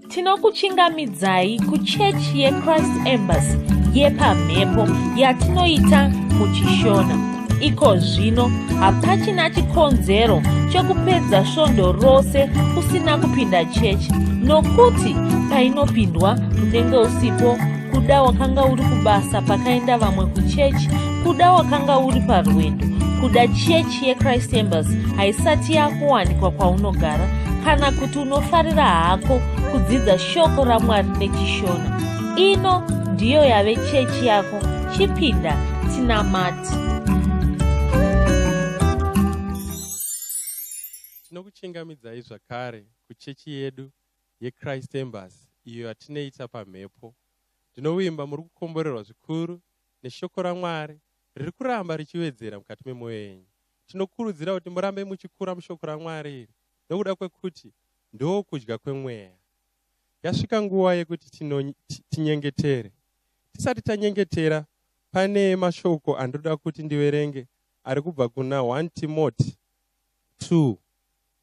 tinokuchingamidzai kuchechi yechrist embassy yepamhepo yatinoita muchishona iko zvino hapachina chikonzero chekupedza svondo rose usina kupinda chechi nokuti painopindwa unenge usipo kuda wakanga uri kubasa pakaenda vamwe kuchechi kuda wakanga uri parwendo kuda chechi yechrist embassy haisati yakuwanikwa kwaunogara kana kuti unofarira hako kudzidza shoko ramwari nechishona ino ndiyo yave chechi yako chipinda tinamati tinokuchingamidzai zvakare kuchechi yedu yechrist embasy iyo yatinoita pamhepo ndinovimba muri kukomborerwa zvikuru neshoko ramwari riri kuramba richiwedzera mukati memwoyo yenyu tinokurudzira kuti murambe muchikura mushoko ramwari iri nokuda kwekuti ndokudya kwemweya. Yasvika nguva yekuti tinyengetere. Tisati tanyengetera, pane mashoko andoda kuti ndiverenge ari kubva kuna 1 Timoti 2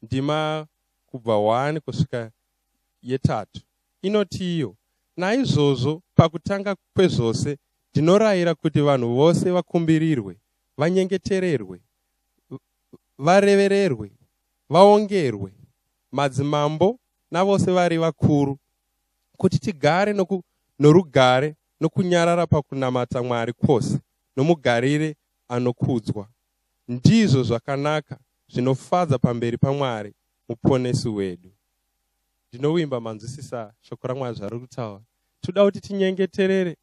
ndima kubva 1 kusvika yetatu inoti iyo naizvozvo pakutanga kwezvose ndinorayira kuti vanhu vose vakumbirirwe vanyengetererwe varevererwe vaongerwe, madzimambo navose vari vakuru, kuti tigare noku, norugare nokunyarara pakunamata Mwari kwose, nomugarire anokudzwa. Ndizvo zvakanaka zvinofadza pamberi paMwari Muponesi wedu. Ndinovimba manzwisisa shoko raMwari zvari kutaura. Tinoda kuti tinyengeterere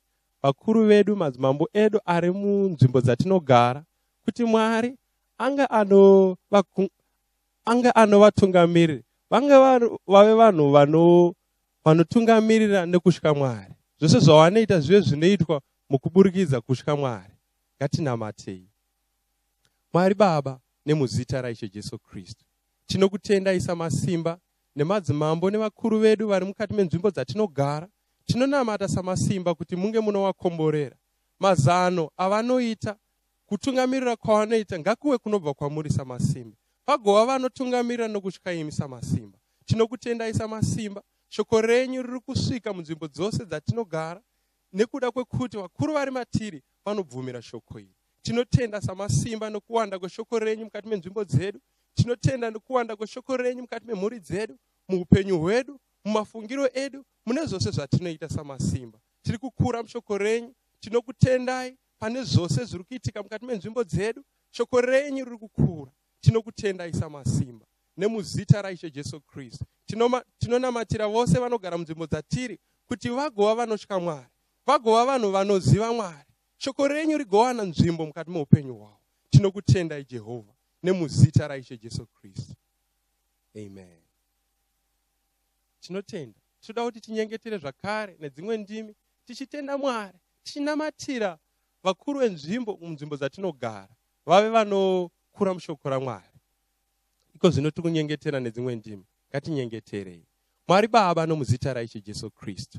vakuru vedu, madzimambo edu ari munzvimbo dzatinogara, kuti Mwari anga ano anga anovatungamirira vange vave vanhu vano vanotungamirira nekutya mwari zvese zvavanoita zvive zvinoitwa mukuburikidza kutya mwari ngatinamatei mwari baba nemuzita raishe jesu kristu tinokutendai samasimba nemadzimambo nevakuru vedu vari mukati menzvimbo dzatinogara tinonamata samasimba kuti munge munovakomborera mazano avanoita Kutungamirira kwavanoita ngakuve kunobva kwamuri saMasimba. Pagova vanotungamirira nokutya imi saMasimba. Tinokutendai saMasimba. Shoko renyu riri kusvika munzvimbo dzose dzatinogara nekuda kwekuti vakuru vari matiri vanobvumira shoko iri. Tinotenda saMasimba nokuwanda kweshoko renyu mukati menzvimbo dzedu. Tinotenda nokuwanda kweshoko renyu mukati memhuri dzedu, muupenyu hwedu, mumafungiro edu, mune zvose zvatinoita saMasimba. Tiri kukura mushoko renyu. Tinokutendai pane zvose zviri kuitika mukati menzvimbo dzedu shoko renyu riri kukura tinokutendai samasimba nemuzita raishe jesu kristu tinonamatira tino vose vanogara munzvimbo dzatiri kuti vagova vanotya mwari vagova vanhu vanoziva mwari shoko renyu rigowana nzvimbo mukati meupenyu hwavo tinokutendai jehovha nemuzita raishe jesu kristu amen tinotenda tinoda kuti tinyengetere zvakare nedzimwe ndimi tichitenda mwari tichinamatira vakuru venzvimbo munzvimbo dzatinogara vave vanokura mushoko ramwari iko zvino tiri kunyengetera nedzimwe ndimi ngatinyengeterei mwari baba nomuzita raishe jesu kristu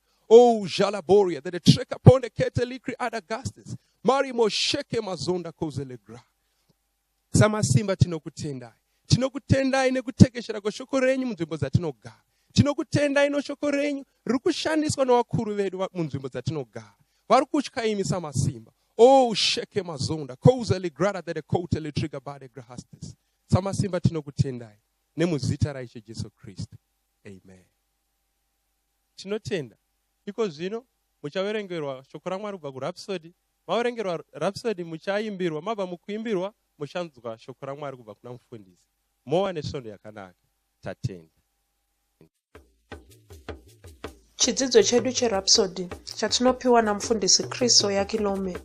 Oh, Jalaboria, that a trek upon the Ketelikri Adagastes, Marimo Sheke Mazonda Kozelegra. Samasimba tinokutendai. Tinokutendai nekutekeshera kweshoko renyu munzvimbo dzatinogara. Tinokutendai noshoko renyu riri kushandiswa nevakuru vedu munzvimbo dzatinogara. Vari kutya imi samasimba. Oh, Sheke Mazonda, Kozelegrada, that a Koteletriga Bade Grahastes. Samasimba tinokutendai. Nemuzita raIshe Jesu Kristu. Amen. Tinotenda. Iko zvino muchaverengerwa shoko raMwari kubva kurhapsodi. Maverengerwa rhapsodi muchaimbirwa, mabva mukuimbirwa muchanzwa shoko raMwari kubva kuna mufundisi. Mowa nesvondo yakanaka. Tatenda. Chidzidzo chedu cherhapsodi chatinopiwa namufundisi Chris Oyakilome.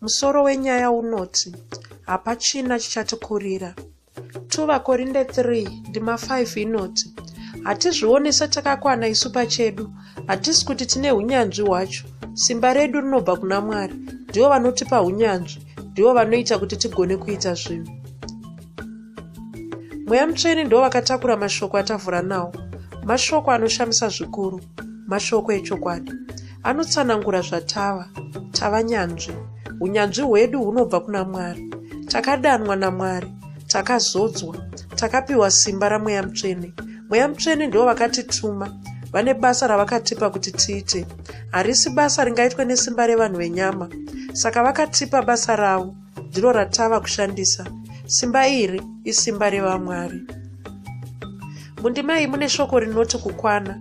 Musoro wenyaya unoti, Hapachina chichatikurira. 2 vakorinde 3 ndima 5 inoti hatizvione setakakwana isu pachedu hatisi kuti tine unyanzvi hwacho simba redu rinobva kuna mwari ndivo vanotipa unyanzvi ndivo vanoita kuti tigone kuita zvinhu mweya mutsvene ndivo vakatakura mashoko atavhura nawo mashoko anoshamisa zvikuru mashoko echokwadi anotsanangura zvatava tava nyanzvi unyanzvi hwedu hunobva kuna mwari takadanwa namwari takazodzwa takapiwa simba ramweya mutsvene mweya mutsvene ndivo vakatituma vane basa ravakatipa kuti tiite harisi basa ringaitwe nesimba revanhu venyama saka vakatipa basa ravo ndiro ratava kushandisa simba iri isimba revamwari mundima iyi mune shoko rinoti kukwana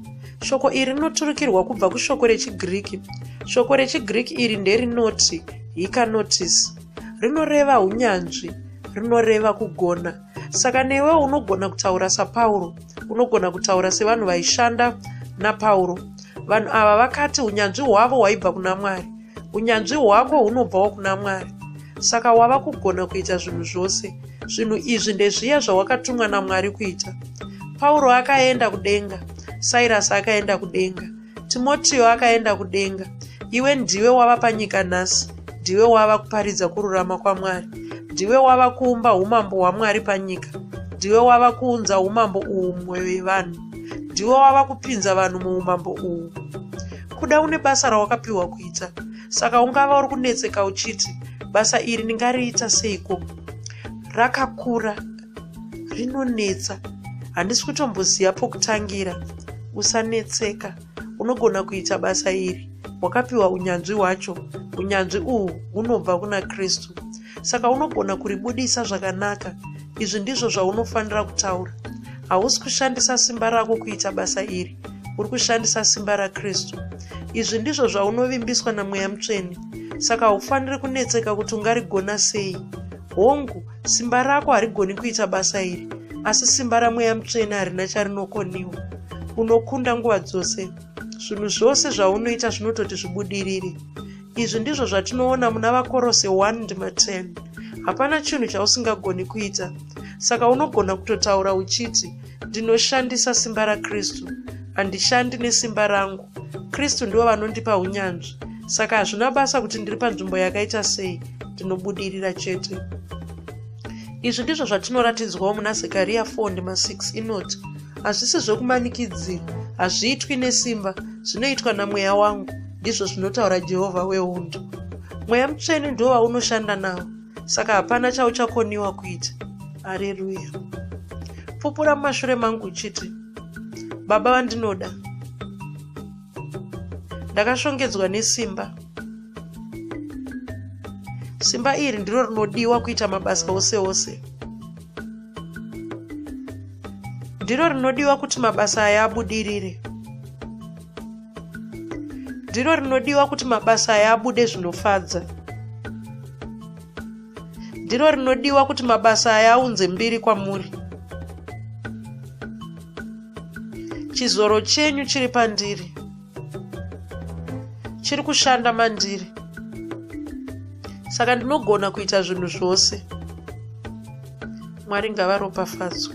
shoko iri rinoturikirwa kubva kushoko rechigiriki shoko rechigiriki iri nderinoti hikanotis rinoreva unyanzvi rinoreva kugona saka newe unogona kutaura sapauro unogona kutaura sevanhu vaishanda napauro vanhu ava vakati unyanzvi hwavo hwaibva kuna mwari unyanzvi hwako hunobvawo kuna mwari saka wava kugona kuita zvinhu zvose zvinhu izvi ndezviya zvawakatumwa namwari kuita pauro akaenda kudenga sairasi akaenda kudenga timotiyo akaenda kudenga iwe ndiwe wava panyika nhasi ndiwe wava kuparidza kururama kwamwari ndiwe wava kuumba umambo hwamwari panyika ndiwe wava kuunza umambo uhwu mumwoyo yevanhu ndiwo wava kupinza vanhu muumambo uhu kuda une basa rawakapiwa kuita saka ungava uri kunetseka uchiti basa iri ndingariita seiko rakakura rinonetsa handisi kutomboziva pokutangira usanetseka unogona kuita basa iri wakapiwa unyanzvi hwacho unyanzvi uhwu hunobva kuna kristu saka unogona kuribudisa zvakanaka izvi ndizvo zvaunofanira kutaura hausi kushandisa simba rako kuita basa iri uri kushandisa simba rakristu izvi ndizvo zvaunovimbiswa namweya mutsvene saka haufaniri kunetseka kuti ungarigona sei hongu simba rako harigoni kuita basa iri asi simba ramweya mutsvene harina charinokoniwa unokunda nguva dzose zvinhu zvose zvaunoita zvinototi zvibudirire izvi ndizvo zvatinoona muna vakorose 1 ndima 10 hapana chinhu chausingagoni kuita saka unogona kutotaura uchiti ndinoshandisa simba rakristu handishandi nesimba rangu kristu ndivo vanondipa unyanzvi saka hazvina basa kuti ndiri panzvimbo yakaita sei ndinobudirira chete izvi ndizvo zvatinoratidzwawo muna zekariya 4 ndima 6 inoti hazvisi zvekumanikidzira hazviitwi nesimba zvinoitwa namweya wangu ndizvo zvinotaura jehovha wehondo mweya mutsvene ndo vaunoshanda nawo saka hapana chauchakoniwa kuita hareruya pupura mumashure mangu uchiti baba vandinoda ndakashongedzwa nesimba simba iri ndiro rinodiwa kuita mabasa ose ose ndiro rinodiwa kuti mabasa aya abudirire ndiro rinodiwa kuti mabasa aya abude zvinofadza ndiro rinodiwa kuti mabasa aya aunze mbiri kwamuri chizoro chenyu chiri pandiri chiri kushanda mandiri saka ndinogona kuita zvinhu zvose mwari ngavaropafadzwe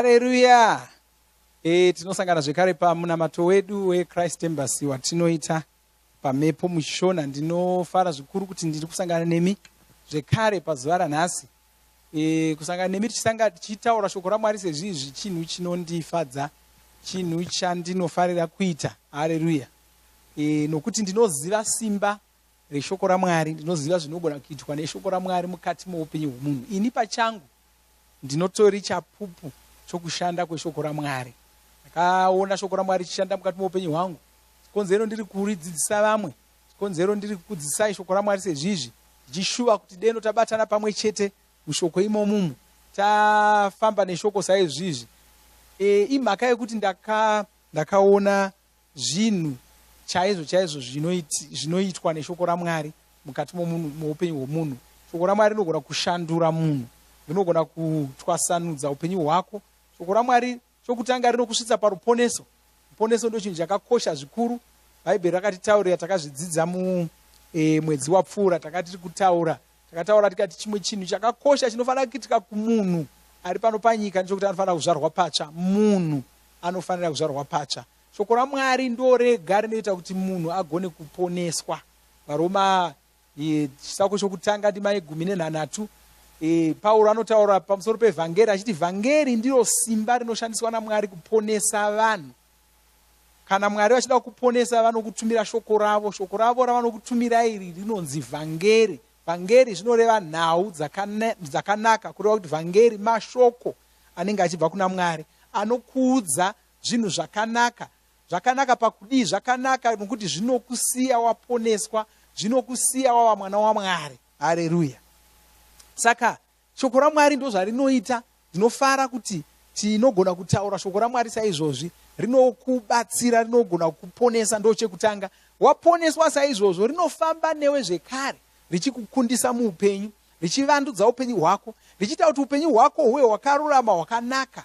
haleluya e, tinosangana zvekare pamunamato wedu wechrist embassy watinoita pamhepo mushona ndinofara zvikuru kuti ndiri kusangana nemi zvekare pazuva ranhasi e, kusangana nemi tichisanga tichitaura shoko ramwari sezvizvi chinhu chinondifadza chinhu chandinofarira kuita hareruya e, nokuti ndinoziva simba reshoko ramwari ndinoziva zvinogona kuitwa neshoko ramwari mukati moupenyu hwemunhu ini pachangu ndinotori chapupu chokushanda kweshoko ramwari ndakaona shoko ramwari richishanda mukati moupenyu hwangu konzero ndiri kuridzidzisa vamwe Chikonzero ndiri kukudzidzisai shoko raMwari sezvizvi, ndichishuva kuti deno tabatana pamwe chete mushoko imomumu, tafamba neshoko saizvizvi. E, imhaka yekuti ndaka, ndakaona zvinhu chaizvo chaizvo zvinoitwa neshoko raMwari mukati momunhu, muupenyu hwomunhu. Shoko raMwari rinogona kushandura munhu, rinogona kutwasanudza upenyu hwako. Shoko raMwari Chokutanga, rinokusvitsa paruponeso. Ruponeso ndochinhu chakakosha zvikuru. Bhaibheri rakatitaurira, takazvidzidza mu e, mwedzi wapfuura, takatiri kutaura takataura tikati chimwe chinhu chakakosha chinofanira kuitika kumunhu ari pano panyika ndechokuti anofanira kuzvarwa patsva munhu anofanira kuzvarwa patsva shoko ramwari ndorega rinoita kuti munhu agone kuponeswa varoma e, chisako chokutanga ndima yegumi nenhanhatu e, pauro anotaura pamusoro pevhangeri achiti vhangeri ndiro simba rinoshandiswa namwari kuponesa vanhu kana mwari vachida kuponesa vanokutumira shoko ravo shoko ravo ravanokutumira iri rinonzi vhangeri vhangeri zvinoreva nhau dzakanaka kureva kuti vhangeri mashoko anenge achibva kuna mwari anokuudza zvinhu zvakanaka Zvakanaka pakudii? Zvakanaka nokuti zvinokusiya waponeswa, zvinokusiya wava mwana waMwari. Hareruya! Saka shoko raMwari ndozvarinoita. Ndinofara kuti tinogona kutaura shoko raMwari saizvozvi. Rinokubatsira, rinogona kukuponesa, ndochekutanga. Waponeswa saizvozvo, rinofamba newe zvekare, richikukundisa muupenyu, richivandudza upenyu hwako, richiita kuti upenyu hwako huve hwakarurama, hwakanaka,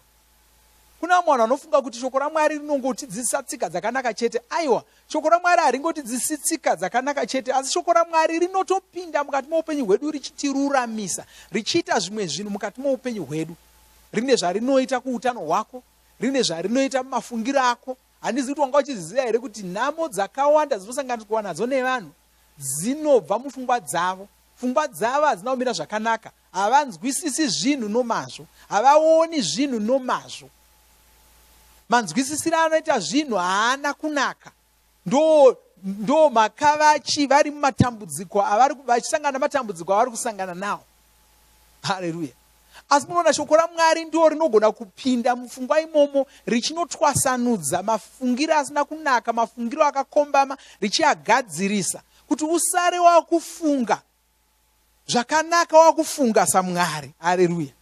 Kune vamwe vanhu vanofunga kuti shoko raMwari rinongotidzidzisa tsika dzakanaka chete. Aiwa, shoko raMwari haringotidzidzisi tsika dzakanaka chete, asi shoko raMwari rinotopinda mukati moupenyu hwedu richitiruramisa, richiita zvimwe zvinhu mukati moupenyu hwedu. Rine zvarinoita kuutano hwako, rine zvarinoita mumafungiro ako. Handizi kuti wanga uchizviziva here kuti nhamo dzakawanda dzinosanganiswa nadzo nevanhu dzinobva mupfungwa dzavo. Pfungwa dzavo hadzina kumira zvakanaka. havanzwisisi zvinhu nomazvo havaoni zvinhu nomazvo manzwisisiro anoita zvinhu haana kunaka ndo ndo makavachi vari mumatambudziko avari vachisangana namatambudziko avari kusangana nawo hareruya asi munoona shoko ramwari ndo rinogona kupinda mupfungwa imomo richinotwasanudza mafungiro asina kunaka mafungiro akakombama richiagadzirisa kuti usare wakufunga zvakanaka wakufunga samwari areruya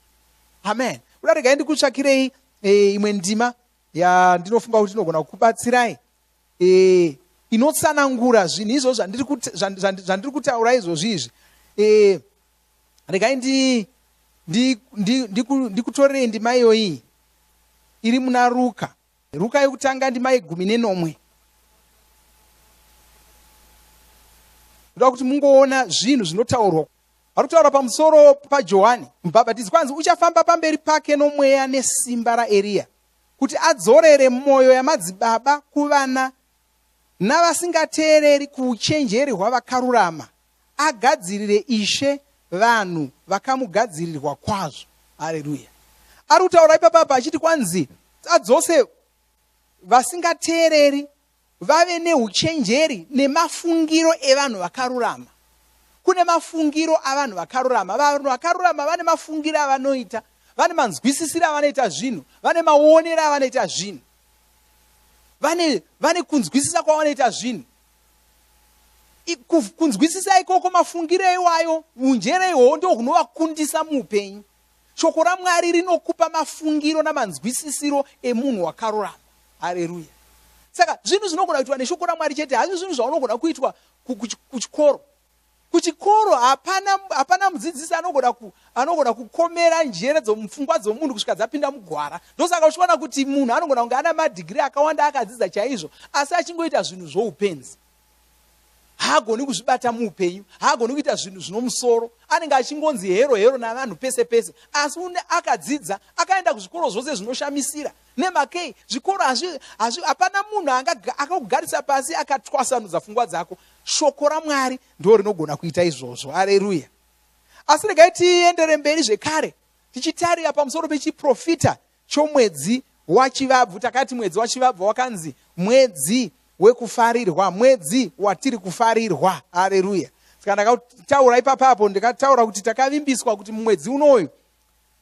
amen kuda regai ndikutsvakirei e, imwe ndima yandinofunga kuti inogona kukubatsirai e, inotsanangura zvinhu izvo zvandiri kutaura izvozvi izvi e, regai ndikutorerei ndima iyoyi iri muna ruka Ruka yokutanga ndima yegumi nenomwe. Ndoda kuti mungoona zvinhu zvinotaurwa. Ari kutaura pamusoro paJohani mubhabhatidzi kwanzi uchafamba pamberi pake nomweya nesimba raEriya kuti adzorere mwoyo yamadzibaba kuvana navasingateereri kuuchenjeri hwavakarurama agadzirire Ishe vanhu vakamugadzirirwa kwazvo. Haleluya. Ari kutaura ipapa apa achiti kwanzi adzose vasingateereri vave neuchenjeri nemafungiro evanhu vakarurama. Kune mafungiro avanhu vakarurama. Vanhu vakarurama vane mafungiro avanoita, vane manzwisisiro avanoita zvinhu, vane maonero avanoita zvinhu, vane, vane kunzwisisa kwavanoita zvinhu. kunzwisisa ikoko mafungiro iwayo unjere ihwowo ndo hunovakundisa muupenyu shoko ramwari rinokupa mafungiro namanzwisisiro emunhu wakarurama hareruya saka zvinhu zvinogona kuitwa neshoko ramwari chete hazvi zvinhu zvaunogona kuitwa kuchikoro kuchikoro hapana hapana mudzidzisi anogona ku, anogona kukomera njere dzomupfungwa dzomunhu kusvika dzapinda mugwara ndosaka uchiona kuti munhu anogona kunge ana madhigiri akawanda akadzidza chaizvo asi achingoita zvinhu zvoupenzi haagoni kuzvibata muupenyu haagoni kuita zvinhu zvinomusoro anenge achingonzi hero hero navanhu pese pese asi une akadzidza akaenda kuzvikoro zvose zvinoshamisira Nemakei zvikoro hazvi hazvi hapana munhu akakugarisa pasi akatwasanudza fungwa dzako shoko ramwari ndo rinogona kuita izvozvo areruya asi regai tiendere mberi zvekare tichitarira pamusoro pechiprofita chomwedzi wachivabvu takati mwedzi wachivabvu wakanzi mwedzi wekufarirwa mwedzi watiri kufarirwa areruya saka ndakataura ipapa apo ndikataura kuti takavimbiswa kuti mumwedzi unoyu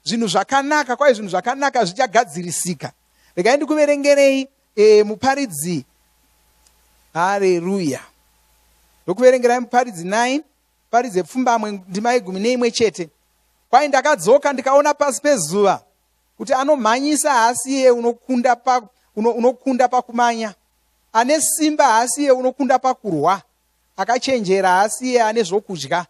zvinhu zvakanaka kwaye zvinhu zvakanaka zvichagadzirisika regai ndikuverengerei e, muparidzi hareruya ndokuverengerai muparidzi 9 paridzi yepfumbamwe ndima yegumi neimwe chete kwaye ndakadzoka ndikaona pasi pezuva kuti anomhanyisa haasi iye unokunda pa, uno, unokunda pakumanya ane simba haasi iye unokunda pakurwa akachenjera haasi iye ane zvokudya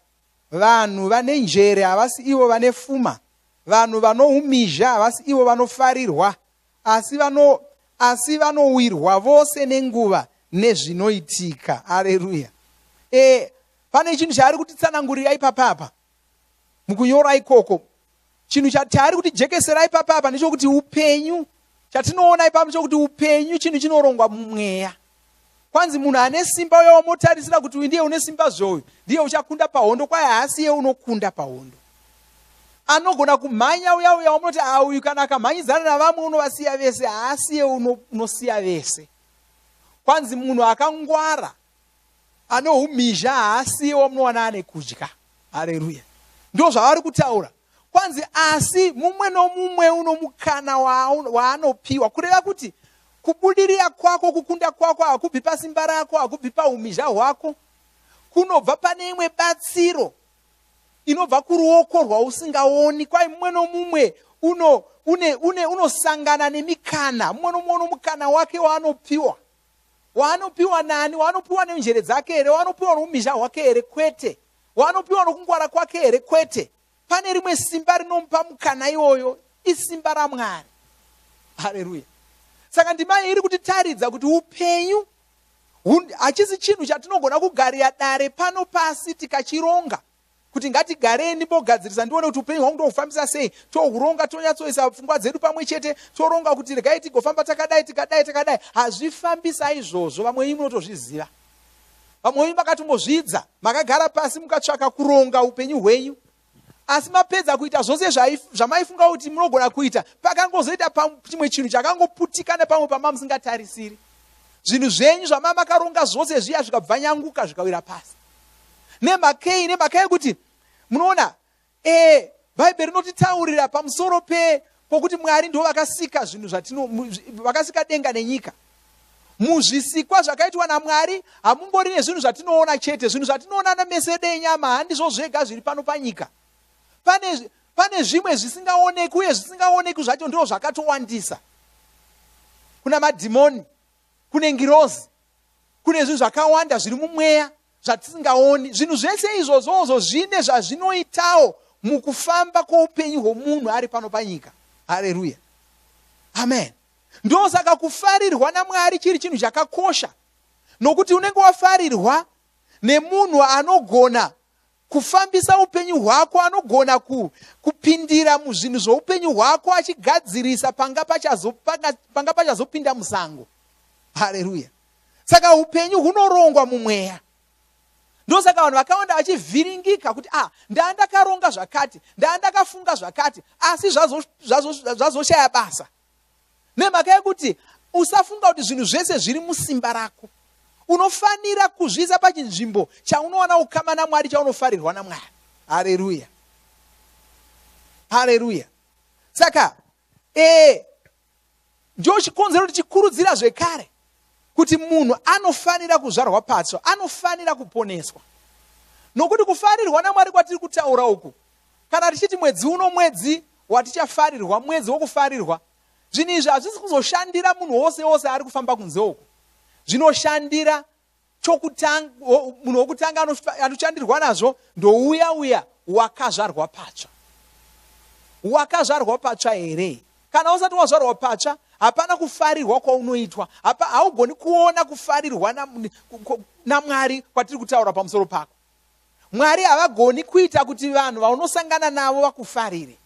Vanhu vane njere havasi ivo vane fuma, vanhu vanoumizha havasi ivo vanofarirwa, asi vano asi vanowirwa vose nenguva nezvinoitika. Aleluya! E, pane chinhu chaari kutitsanangurira ipapapa mukunyora ikoko chinhu chataari kuti jekeserai papa apa ndechokuti upenyu chatinoona ipapo chokuti upenyu chinhu chinorongwa mumweya kwanzi munhu ane simba uye wamotarisira kuti uyu ndiye une simba zveoyo ndiye uchakunda pahondo kwaye haasi iye unokunda pahondo anogona kumhanya uya uya wamunoti auyu kana akamhanyidzana navamwe unovasiya vese haasi iye unosiya vese kwanzi munhu akangwara ane umhizha haasiwo munowana ane kudya hareruya ndo zvavari kutaura kwanzi asi mumwe nomumwe uno mukana waanopiwa kureva kuti kubudirira kwako kukunda kwako hakubvi pasimba rako hakubvi paumhizha hwako kunobva pane imwe batsiro inobva kuruoko rwausingaoni kwai mumwe nomumwe uno une une unosangana nemikana mumwe nomumwe uno mukana wake waanopiwa waanopiwa nani waanopiwa nenjere dzake here waanopiwa noumisha hwake here kwete waanopiwa nokungwara kwake here kwete pane rimwe simba rinomupa mukana iwoyo isimba ramwari hareruya saka ndima iri kutitaridza kuti upenyu hachisi chinhu chatinogona kugarira dare pano pasi tikachironga kuti ngatigarei ndimbogadzirisa ndione kuti upenyu hwangu ndohufambisa sei tohuronga tonyatsoisa pfungwa dzedu pamwe chete toronga kuti regai tigofamba takadai tikadai takadai hazvifambisa izvozvo vamwe venyu munotozviziva vamwe venyu makatombozvidza makagara pasi mukatsvaka kuronga upenyu hwenyu asi mapedza kuita zvose zvamaifunga kuti munogona kuita pakangozoita pachimwe chinhu chakangoputika nepamwe pama musingatarisiri zvinhu zvenyu zvamamakaronga zvose zviya zvikabvanyanguka zvikawira pasi Nemhaka yei? Nemhaka yekuti munoona ee bhaibheri rinotitaurira pamusoro pe pokuti mwari ndo vakasika zvinhu zvatino vakasika denga nenyika muzvisikwa zvakaitwa namwari hamungori nezvinhu zvatinoona chete zvinhu zvatinoona nemesedo enyama handizvo zvega zviri pano panyika pane pane zvimwe zvisingaoneki uye zvisingaoneki zvacho ndo zvakatowandisa kuna madhimoni kune ngirozi kune zvinhu zvakawanda zviri mumweya zvatisingaoni zvinhu zvese izvozvozvo zvine zvazvinoitawo mukufamba kwoupenyu hwomunhu ari pano panyika hareruya amen ndosaka kufarirwa namwari chiri chinhu chakakosha nokuti unenge wafarirwa nemunhu anogona kufambisa upenyu hwako anogona ku, kupindira muzvinhu zvoupenyu hwako achigadzirisa panga pachazopinda panga pachazo musango hareruya saka upenyu hunorongwa mumweya ndosaka vanhu vakawanda vachivhiringika kuti ah ndaa ndakaronga zvakati ndaa ndakafunga zvakati asi zvazoshaya zvazo, zvazo basa Nemhaka yekuti usafunga kuti zvinhu zvese zviri musimba rako. Unofanira kuzviisa pachinzvimbo chaunowana ukama naMwari chaunofarirwa naMwari. Haleluya. Haleluya. Saka eh ndio chikonzero kuti chikurudzira zvekare kuti munhu anofanira kuzvarwa patsva, anofanira kuponeswa. Nokuti kufarirwa naMwari kwatiri kutaura uku Kana tichiti mwedzi uno mwedzi watichafarirwa, mwedzi wokufarirwa, zvinhu izvi hazvisi kuzoshandira munhu wose wose ari kufamba kunze uku. Zvinoshandira chokutanga, munhu wokutanga anochandirwa nazvo ndouya uya wakazvarwa patsva. Wakazvarwa patsva here? Kana usati wazvarwa patsva, hapana kufarirwa kwaunoitwa. Haugoni kuona kufarirwa naMwari kwatiri kutaura pamusoro pako. mwari havagoni kuita kuti vanhu vaunosangana navo vakufarire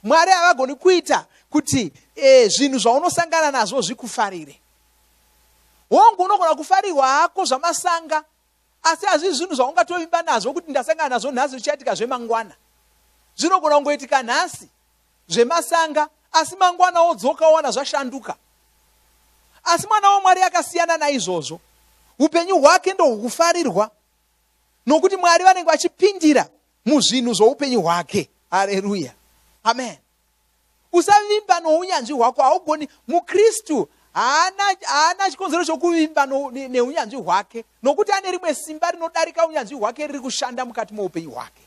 mwari havagoni kuita kuti e, zvinhu zvaunosangana nazvo zvikufarire hongu unogona kufarirwa hako zvamasanga asi hazvii zvinhu zvaungatovimba nazvo kuti ndasangana nazvo nhasi zvichaitika zvemangwana zvinogona kungoitika nhasi zvemasanga asi mangwana wodzoka wowana zvashanduka asi mwana wamwari akasiyana naizvozvo upenyu hwake ndohukufarirwa nokuti mwari vanenge vachipindira muzvinhu zvoupenyu hwake hareruya amen usavimba nounyanzvi hwako haugoni mukristu haana chikonzero chokuvimba neunyanzvi hwake nokuti ane rimwe simba rinodarika unyanzvi hwake riri kushanda mukati moupenyu hwake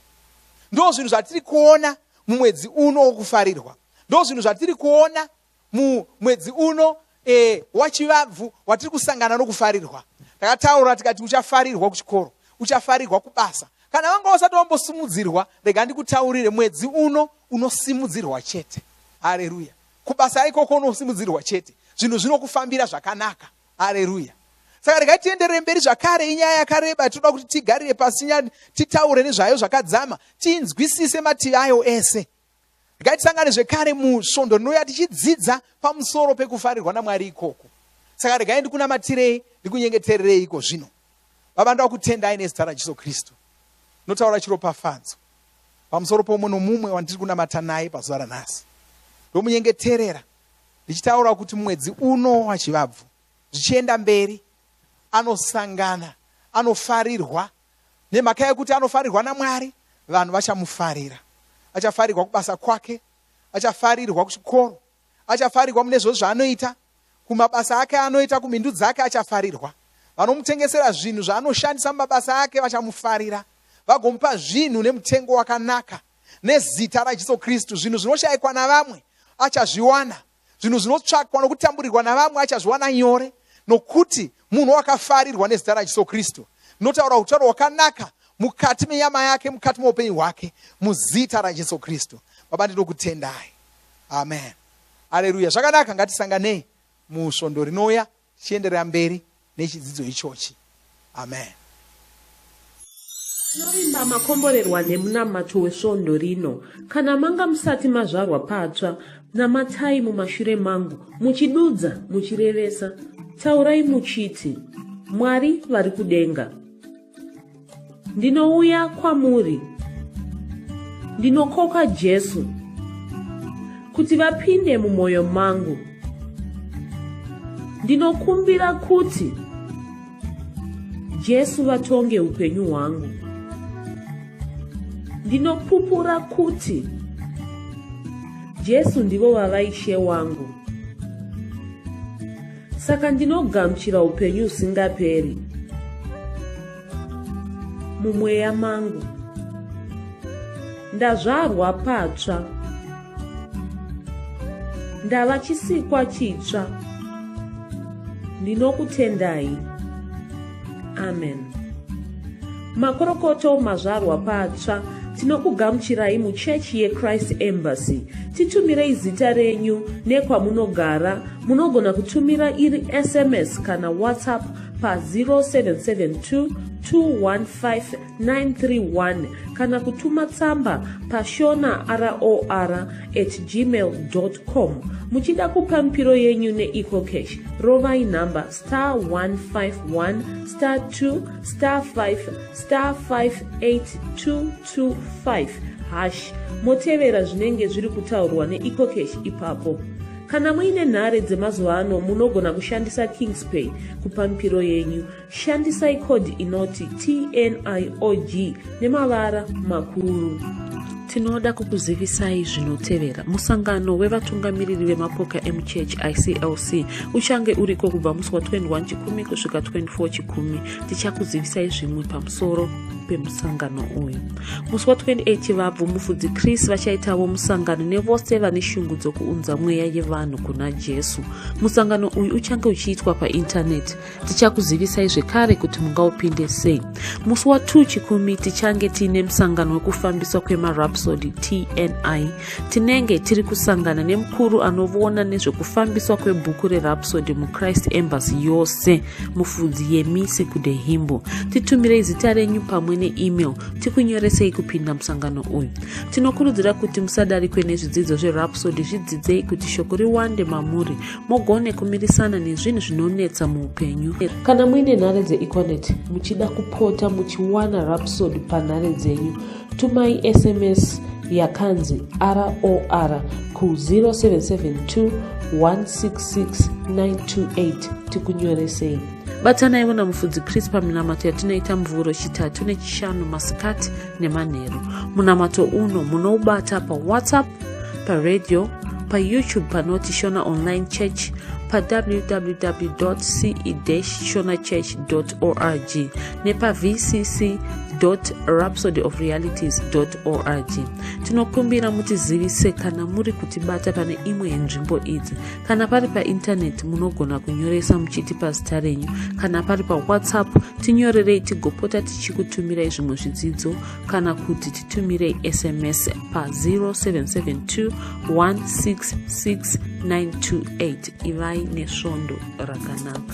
ndo zvinhu zvatiri kuona mumwedzi uno wokufarirwa ndozvinhu zvatiri kuona mumwedzi uno e, wachivabvu watiri kusangana nokufarirwa takataura tikati uchafarirwa kuchikoro uchafarirwa kubasa kana vanga usati wambosimudzirwa rega ndikutaurire mwedzi uno unosimudzirwa chete hareruya kubasa ikoko unosimudzirwa chete zvinhu zvinokufambira zvakanaka hareruya saka regai tienderere mberi zvakare inyaya yakareba tinoda kuti tigarire pasi nyaya titaure nezvayo zvakadzama tiinzwisise mativi ayo ese regai tisangane zvekare musvondo rinouya tichidzidza pamusoro pekufarirwa namwari ikoko saka regai ndikunamatirei ndikunyengetererei iko zvino baba ndoda kutendai nezita rajesu kristu notaura chiropafadzo pamusoro pomwe nomumwe wandiri kunamata naye pazuva ranhasi ndomunyengeterera ndichitaura kuti mwedzi uno wachivabvu zvichienda mberi anosangana anofarirwa nemhaka yekuti anofarirwa namwari vanhu vachamufarira achafarirwa kubasa kwake achafarirwa kuchikoro achafarirwa mune zvo zvaanoita kumabasa ake anoita kumhindu dzake achafarirwa vanomutengesera zvinhu zvaanoshandisa mumabasa ake vachamufarira vagomupa zvinhu nemutengo wakanaka nezita raJesu Kristu. Zvinhu zvinoshaikwa navamwe achazviwana, zvinhu zvinotsvakwa nokutamburirwa navamwe achazviwana nyore, nokuti munhu wakafarirwa nezita raJesu Kristu. Notaura utauro hwakanaka mukati menyama yake, mukati meupenyu hwake, muzita raJesu Kristu. Baba, ndinokutendai. Amen. Aleluya. Zvakanaka, ngatisanganei musvondo rinouya. tichienderera mberi nechidzidzo ichochi amen tinovimba makomborerwa nemunamato wesvondo rino kana manga musati mazvarwa patsva namatai mumashure mangu muchidudza muchirevesa taurai muchiti mwari vari kudenga Ndinouya kwamuri. Ndinokoka Jesu kuti vapinde mumwoyo mangu. Ndinokumbira kuti Jesu vatonge upenyu hwangu. Ndinopupura kuti Jesu ndivo vava Ishe wangu. saka ndinogamuchira upenyu husingaperi mumweya mangu ndazvarwa patsva ndava chisikwa chitsva ndinokutendai amen makorokoto mazvarwa patsva tinokugamuchirai muchechi yechrist embassy titumirei zita renyu nekwamunogara munogona kutumira iri sms kana whatsapp pa 0772 215 931 kana kutuma tsamba pashona ror at gmail com muchida kupa mipiro yenyu neecocash rovai nhamba star 151 star 2 star 5 star 58225 hash motevera zvinenge zviri kutaurwa neecocash ipapo kana muine nhare dzemazuva ano munogona kushandisa kingspay kupa mipiro yenyu Shandisai code inoti TNIOG nemavara makuru. Tinoda kukuzivisai zvinotevera. Musangano wevatungamiriri vemapoka emuchechi ICLC uchange uriko kubva musi wa 21 Chikumi kusvika 24 Chikumi. Tichakuzivisai zvimwe pamusoro pemusangano uyu. Musi wa 28 Chivabvu mufudzi Chris vachaitawo musangano nevose vane shungu dzokuunza mweya yevanhu kuna Jesu. Musangano uyu uchange uchiitwa paintaneti. tichakuzivisai zvekare kuti mungaupinde sei musi wa 2 chikumi tichange tiine musangano wekufambiswa kwemarapsody tni tinenge tiri kusangana nemukuru anoona nezvekufambiswa kwebhuku rerapsody muchrist embassy yose mufudzi yemisi kudehimbo titumirei zita renyu pamwe neemail tikunyoresei kupinda musangano uyu tinokurudzira kuti musadarikwe nezvidzidzo zverapsody zvidzidzei kuti shoko riwande mamuri mugone kumirisana nezvinhu zvinonetsa muupenyu kana muine nhare dzeeconet muchida kupota muchiwana rapsod panhare dzenyu tumai sms yakanzi ror ku 0772 166928 tikunyoresei batanaivo namufudzi pris paminamato yatinoita mvuro chitatu nechishanu masikati nemanheru munamato uno munoubata pawhatsapp paradio payoutube panoti shona online church pawww ce shona church org nepavcc rhapsody of realities org tinokumbira mutizivise kana muri kutibata pane imwe yenzvimbo idzi kana pari paintaneti munogona kunyoresa muchitipa zita renyu kana pari pawhatsapp tinyorerei tigopota tichikutumirai zvimwe zvidzidzo kana kuti titumirei sms pa 0772 166 928 ivai nesvondo rakanaka